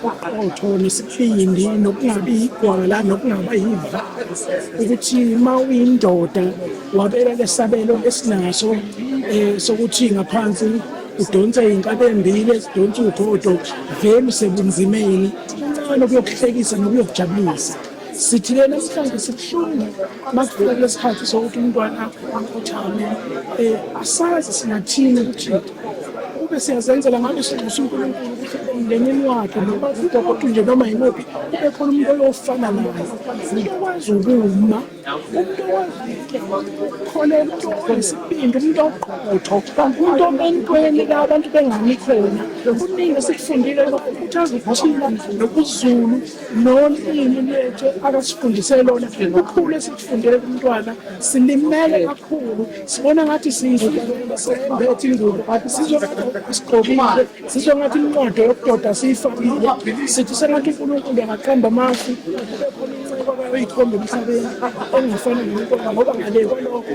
uqoqotho nesibindi nokungabi igwala nokungaba yiva ukuthi uma uyindoda wabeka lesabelo esinaso um eh, sokuthi ngaphansi udonse iy'nkabi embili ezidonsa ugodo vele usebunzimeni kuncane ukuyokuhlekisa nokuyokujabulisa sithi lena mhlawumbe sibuhlungu makufika kule sikhathi sokuthi umntwana akhothame um asazi singathini ukuthi kube siyazenzela ngabe sinxusa unkulunkulu ukuthi emndenini wakhe noma ugogodu nje noma yimuphi kube khona umuntu oyofana naye umuntu okwazi ukuma umuntu okwaziukholelwa umuntu onesibindi umuntu oqotho umuntu obentweni la abantu bengabi khona kuningi esikufundile lokukhuthaza ukuthina nokuzulu nolimi lwethu akasifundise lona kakhulu esikufundele kumntwana silimele kakhulu sibona ngathi sibethi ingubo kanti sizongasigqokile sizwe ngathi inqodo yokudoda siyifakile sithi sengathi unkulunkulu angaqamba amafu bekhona inceko abayoyikhomba emhlabeni engafani nenkomba ngoba ngale kwalokho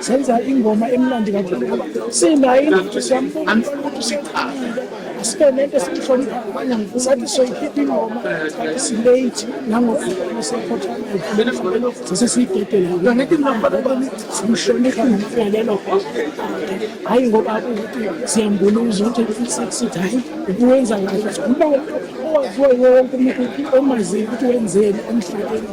senza ingoma emnandi kakhulu sinayo ingqondo siyambona umuntu siqhamile sibe nento esiyihlonipha abanye angifuni sathi soyikhipha ingoma kanti silate nangokuhlona sekhothana sesesiyidedela yona ngithi ngihamba ngoba simhlonipha ngomfelelo hhayi ngoba ukuthi siyambuluza ukuthi sithi hhayi ubuwenza kahle uba owaziwayo wonke umuntu omaziyo ukuthi wenzeni emhlabeni